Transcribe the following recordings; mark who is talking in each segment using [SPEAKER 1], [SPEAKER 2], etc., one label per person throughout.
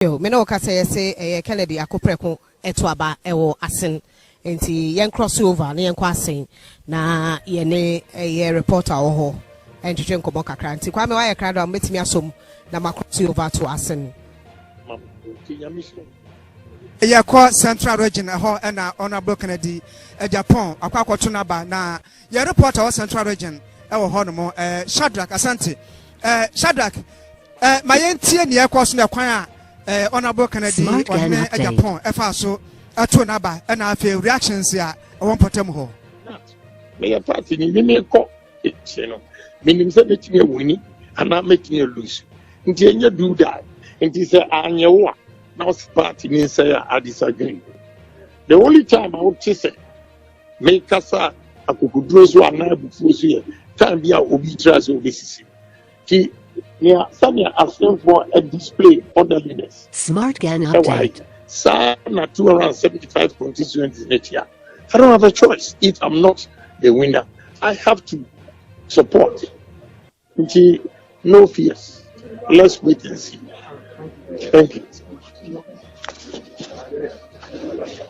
[SPEAKER 1] Yo, me ne wo ka sɛ yɛse ɛyɛ Kennedy ako prɛko ɛto aba ɛwɔ asen nti yɛn cross over na yɛnkɔ asen na yɛne ɛyɛ reporter wɔ hɔ ɛntwetwe nkɔmɔ kakra nti Kwame wayɛ krado a mobɛtumi asom na ma cross over ato asen.
[SPEAKER 2] Yɛkɔ central region ɛhɔ na Honourable Kennedy Agyapong akɔ akɔto n'aba na. Yɛn reporter wɔ Central Region wɔ hɔ nom, eh, Shadrack Asante. Eh, Shadrack, eh, ma yɛntie nea ɛkɔɔ so na ɛkwan a eh, Honourable Kennedy Smart Ghana ɔhene Update. Agyapong ɛfaa so ɛtoo n'aba ɛna afei reactions a ɛwɔ mpɔtam hɔ. meyɛ
[SPEAKER 3] party ni ne mekɔ ɛkyɛ no menim sɛ mɛtumi awini anaa mɛtumi alose nti ɛnyɛ do that nti sɛ anyɛ wo a na ɔse party ni nsɛ a adesadwene the only time a wote sɛ Me kasa akokoduro so anaa abufuo so yɛ time bi a obi tiri ase obesisi ti nea sɛnea asenfoɔ display orderliness Smart Gang ɛwɔ ha
[SPEAKER 4] Update. yi saa na
[SPEAKER 3] 275 constituencies ne tia I don't have a choice if I'm not the winner I have to support Nti no fear let's wait and
[SPEAKER 5] see thank you.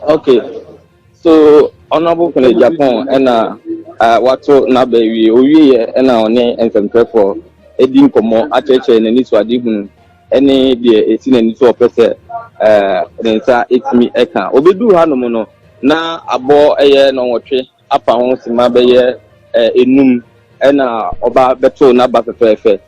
[SPEAKER 5] Okay, so honorable Kenneth Japon ɛna uh, wato n'aba awie owie yɛ ɛna ɔne nsɛmtwerɛfoɔ edi nkɔmɔ akyerɛkyerɛ n'ani so ade hunu ɛne deɛ esi n'ani so ɔpɛ sɛ ɛɛ ne nsa etumi ɛka obeduru hanom no na abɔ ɛyɛ nɔnwɔtwe apa ho sima bɛyɛ enum na ɔba bɛtow n'aba fɛfɛɛfɛ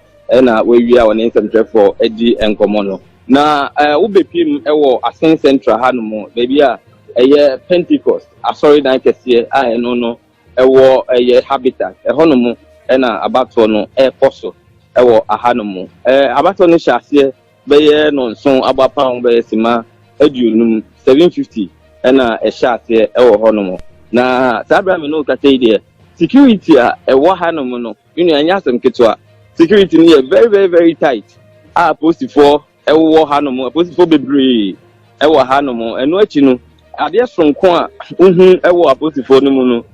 [SPEAKER 5] na wawie a ɔne nsɛmtwerɛfoɔ adi nkɔmmɔ no. Na wobɛpirim wɔ Asen Central hanom, baabi a ɛyɛ Pentecost asɔredan kɛseɛ a ɛno no ɛwɔ ɛyɛ Habitat. Ɛhɔnom na abatoɔ no rekɔ so wɔ hanom. Abatoɔ no hyɛ aseɛ. bɛyɛ nnɔnson abɔ apam ho bɛyɛ simma aduonum, 750, na ɛhyɛ aseɛ wɔ hɔnom. Na saa berɛ a me ne wo kasa yi deɛ, security a ɛwɔ hanom no, me nua, ɛnyɛ asɛm ketewa. Security no yɛ very very very tight a apolisifoɔ wɔ hanom, apolisifoɔ bebree wɔ hanom. Ɛno akyi no, adeɛ soronko a wohu wɔ apolisifoɔ no mu no,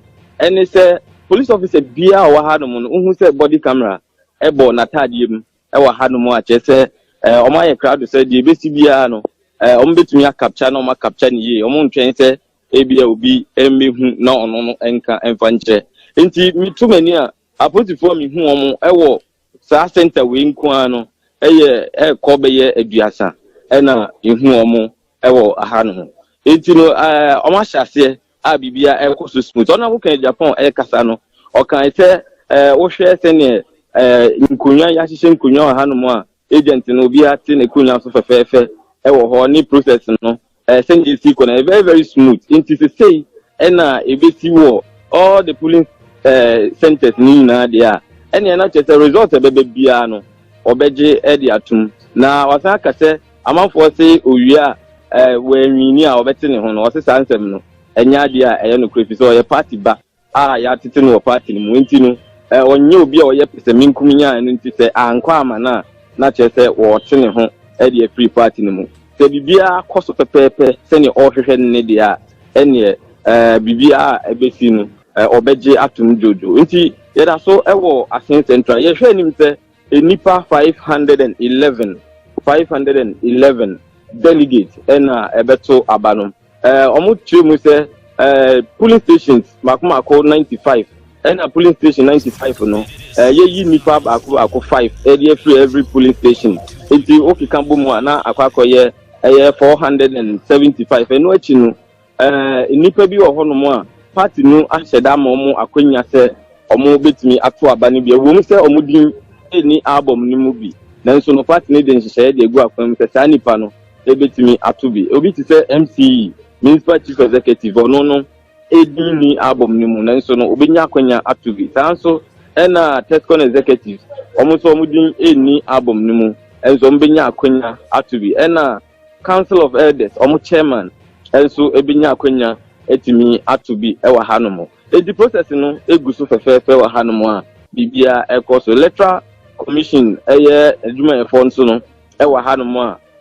[SPEAKER 5] ɛne sɛ police officer biara a ɔwɔ hanom no, wohu sɛ body camera bɔ n'ataadeɛ mu. wɔ hanom a, kyerɛ sɛ wɔayɛ krado sɛ deɛ ɛbɛsi biara no, wɔbɛtumi akapkya na wɔakapkya no yie. Wɔntwɛn sɛ ebia obi mmɛhu na ɔno no nka mfa nkyerɛ. Nti meto m'ani a, apolisifoɔ a mehu wɔn wɔ saa sɛnta wei nko ara no yɛ ɛrekɔ bɛyɛ aduasa na mehu wɔn wɔ hanom. Nti no wɔahyɛ aseɛ a biribiara rekɔ so smooth. Ɔno a woka Japan rekasa no, ɔkae sɛ eh, wohwɛ sɛnea eh, nkonnwa yɛahyehyɛ nkonnwa wɔ hanom a agent no obiara te n'akonnwa so fɛfɛɛfɛ wɔ hɔ ne process no eh, sɛnea esi kɔ no ɛyɛ very very smooth. Nti sesei ɛna ebesi wɔ all the polling eh, centers no nyinaa deɛ a ɛnea na kyerɛ sɛ result a ɛbɛba biara no wɔbɛgye de atom na wasan aka sɛ Amanfoɔ se owia a eh, wɔanwini a wɔbɛte ne ho no, ɔse saa nsɛm no ɛnyɛ adeɛ a ɛyɛ nokorɛ firi sɛ ɔyɛ party ba a yɛatete no wɔ party no mu enti no eh, ɔnyɛ obi a ɔyɛ pɛsɛmenkominya a ɛno nti sɛ ankɔ ama no a na kyerɛ sɛ wɔte ne ho de afiri party no mu. Sɛ biribiara kɔ so pɛpɛɛpɛ sɛdeɛ ɔrehwehwɛ no ne deɛ a ɛneɛ eh, biribiara a ɛbɛsi no eh, ɔbɛgye atom dwoodwoo. Nti yɛda so wɔ Asen Central yɛhwɛ anim sɛ Nnipa five hundred and eleven, five hundred and eleven delegates ɛna ɛbɛto aba no. Ɛɛ wɔn kyerɛ mu sɛ ɛɛ polling stations mako mako ninety five ɛna polling station ninety five no ɛɛ yɛyi nnipa baako baako five ɛde afiri every polling station nti okeka bɔ mu a na akɔ akɔyɛ ɛyɛ four hundred and seventy five ɛno akyi no. Eh, nnipa bi wɔ hɔnom a party no ahyɛ da ama wɔn akwanya sɛ wɔbɛtumi ato aba no bi. Ɛwom sɛ wɔn din nni album no mu bi, nanso no party no de nhyehyɛeɛ de agu akwan mu sɛ saa nnipa no bɛtumi ato bi. Obi te sɛ MCE, Municipal Chief Executive, ɔno no din nni album no mu, nanso no ɔbɛnya akwanya ato bi. Saa nso na Tescon Executives, wɔn nso wɔn din nni album no mu, nanso wɔbɛnya akwanya ato bi. Ɛna. Council of Elders wɔn chairman nso bɛnya akwanya atumi ato bi wɔ hanom. Enti process no gu so fɛfɛɛfɛ wɔ hanom a biribiara rekɔ so. Electoral Commission yɛ adwumayɛfoɔ nso no wɔ hanom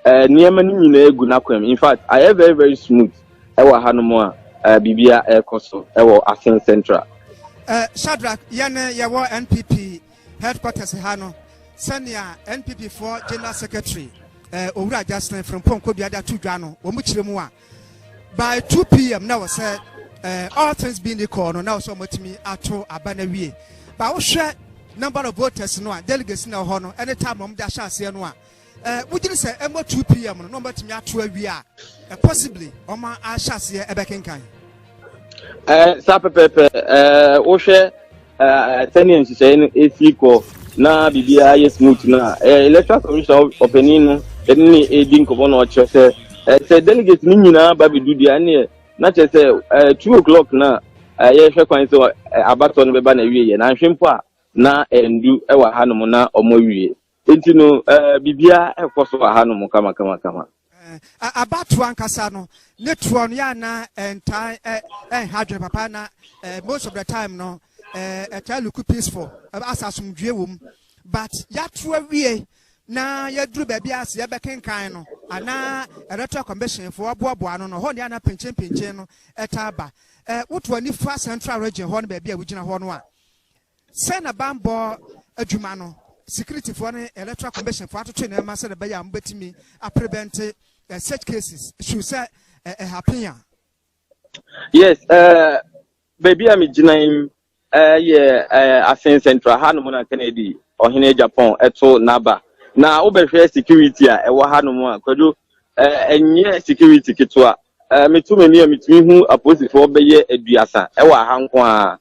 [SPEAKER 5] a nneɛma no nyinaa gu n'akwam. In fact, ayɛ very very smooth wɔ hanom a biribiara rekɔ so wɔ Asin Central. Shadrack,
[SPEAKER 2] yɛne yɛwɔ NPP Headquarters ha no, sɛnea NPP foɔ General Secretary eh, Owura Justin Frimpong Kobia de ato dwa no, wɔn kyerɛ mu a, by 2 pm na wɔ sɛ eh, all things being equal no, na wɔ sɛ wɔatumi ato aba no awie. Ba wohwɛ number of voters no a, delegates na wɔ hɔ no, ɛne time wɔn de ahyɛ aseɛ no a, Eh, wogye ne sɛ ɛmmɔ 2 pm no na wɔbɛtumi ato awie a eh, possibly wɔn ahyɛ aseɛ ɛbɛkenkan eh,
[SPEAKER 5] saa pɛpɛpɛ eh, wohwɛ eh, sɛnea nhyehyɛe no ɛsi kɔ na biribiara yɛ smooth no a eh, electoral commission ɔpanin no ɛne ne ɛdi nkɔmmɔ na ɔkyerɛ sɛ eh, sɛ delegate no nyinaa ba bɛdu deɛ ɛneɛ na kyerɛ sɛ eh, two o'clock no a eh, yɛhwɛ kwan sɛ eh, abatɔ no bɛba na awie yɛ na nhwe mpo a na ɛndu ɛwɔ hanom na ɔmo awie Enti no, eh, biribiara rekɔ so wɔ hanom kamakamakama. Eh,
[SPEAKER 2] abatoɔ ankasa no, ne toɔ no, yɛ ana ɛntaa ɛnha adwene papa na eh, most of the time no, eh, ɛtaa luku peaceful, asa asomdwie wɔ mu. But yɛato awie na yɛduru baabi a sɛ yɛbɛkenkan no anaa electoral commission fo aboaboa no no hɔ ne ana pinkyenpinkyen no ɛtaa ba woto ani fa central region hɔ no baabi a wogyina hɔ no a Sɛn na bammɔ adwuma no sikiritifoɔ ne Electoral Commission foɔ atwetwe nneɛma sɛdeɛ ɛbɛyɛ a wɔbɛtumi aprevɛnte such cases should sɛ ɛhapen a?
[SPEAKER 5] Yes, uh, baabi a megyina yi yɛ Asen Central ha nom na Kennedy ɔhene Japan ɛto n'aba na wobɛhwɛ security a ɛwɔ ha nom a kwadwo Eh, ɛnyɛ security ketewa Eh, meto m'ani a metumi hu apolisifoɔ bɛyɛ aduasa ɛwɔ aha nko a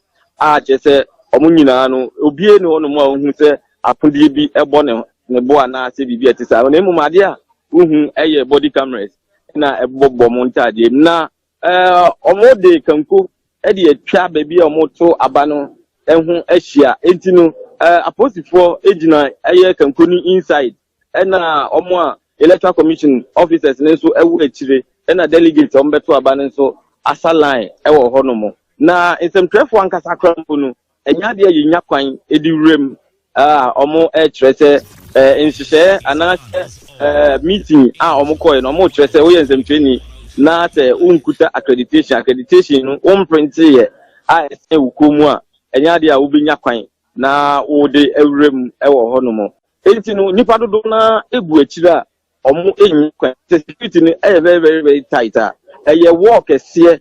[SPEAKER 5] a kyerɛ sɛ wɔn nyinaa no obie ne hɔnom a wohu sɛ akodeɛ bi ɛbɔ ne ne bo anaasɛ biribi a ɛte saa na mmom adeɛ a wohu ɛyɛ body cameras na ɛbobɔ wɔn ntaadeɛ mu na eh, wɔde kanko ɛde atwa baabi a wɔto aba no ɛho ahyia enti no eh, apolisifoɔ gyina ɛyɛ kanko no inside ɛna wɔn a electoral commission officers no nso wɔ akyire, ɛna delegates a wɔbɛto aba no nso asa line wɔ hɔnom. Na nsɛmtwerɛfoɔ ankasa koraa mpo no, ɛnyɛ adeɛ a yɛnya kwan de wuram a wɔkyerɛ sɛ eh, nhyehyɛeɛ anaasɛ eh, meeting a wɔkɔe no wɔkyerɛ sɛ woyɛ nsɛmtwerɛni na sɛ wonkuta accreditation accreditation no womprenteeɛ a ɛsɛ wo kɔn mu a ɛnyɛ adeɛ a wobɛnya kwan na wode awuram wɔ hɔnom. Enti no, nnipa dodow no ara gu akyiri a wɔnnya kwan. Sɛ security no yɛ very very very tight a, ɛyɛ wall kɛseɛ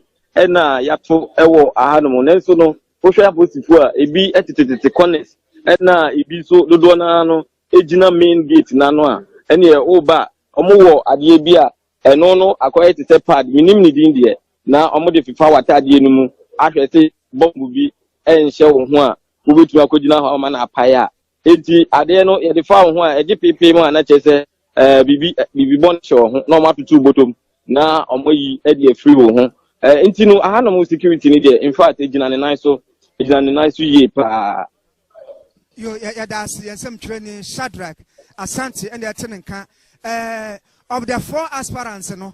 [SPEAKER 5] na yɛato wɔ ahanom. Nanso no, wohwɛ apolisifo a, ebi tetetete corners na ebi nso dodoɔ no ara no gyina main gate no ano a, ɛneɛ woba a, wɔwɔ adeɛ bi a ɛno no akɔyɛ te sɛ pad, menim ne din deɛ, na wɔde fefa w'atadeɛ no mu ahwɛ sɛ bɔmbo bi nhyɛ wo ho a, wobɛtumi akɔgyina hɔ ama no apae a. Enti adeɛ no yɛde fa wo ho a ɛgye peepee mu a na kyerɛ sɛ ɛɛ biribi ɛ- biribi bɔne hyɛ wo ho na wɔn atoto wo bɔtɔm na wɔn ayi ɛde afiri wo ho. Ɛɛ nti no ahanom security ni deɛ in fact egyina ne nan so egyina ne nan so yie paa. Yo,
[SPEAKER 2] yɛ- yɛda ase yɛn nsɛm twerɛni Shadrach Asante ɛna ɛte ne nka. Eh, of the four aspirants no,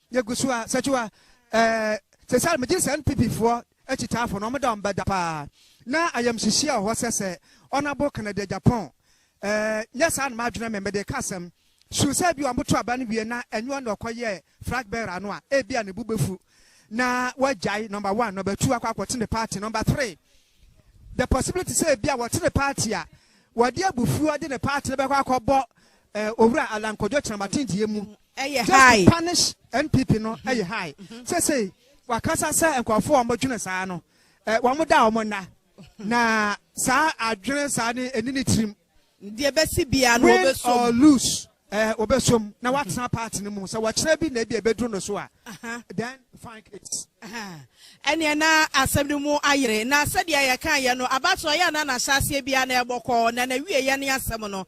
[SPEAKER 2] Yɛgu so a Sɛkyiwa eh, sɛsɛre megye sɛ NPP foɔ akyitaafo no ɔmo da ɔmo bɛda paa na ayamhyehyeɛ ɔhɔ sɛ sɛ Honourable Kennedy Agyapong eh, nyɛ saa na madwene me mede ka asɛm su sɛ bi ɔmo to aba no wie na ɛnyɛ ɔno na ɔkɔ yɛ flag bearer no a ebi a ne bu bɛfu na wagyae number one number two akɔ akɔte ne party number three the possibility sɛ ebi a wɔte ne party a wɔde abufuo de ne party no bɛkɔ akɔbɔ eh, owura Alan Kwadwo Kyerematen deɛ mu Ɛyɛ high. Just to punish NPP no ɛyɛ mm-hmm. high. Mm-hmm. Sɛsɛyi wakasa sɛ nkurɔfoɔ a wɔdwene saa no eh, wɔn da wɔn nna mm-hmm. na saa adwene saa ne ɛni ne tirim. Deɛ bɛsi
[SPEAKER 1] bia no wɔbɛsom. Win or lose
[SPEAKER 2] ɛɛ eh, wɔbɛsom na watena party no mu sɛ wɔkyerɛ bi na ebi ɛbɛduru no so a. Uh-huh. Then fine case. Uh-huh. Ɛnìyɛn
[SPEAKER 1] na asɛm no mu ayere na sɛdeɛ yɛka yɛ no abatoɔ yɛ na n'ahyɛ aseɛ bia na ɛbɔ kɔɔ na n'awie yɛ ne asɛm no.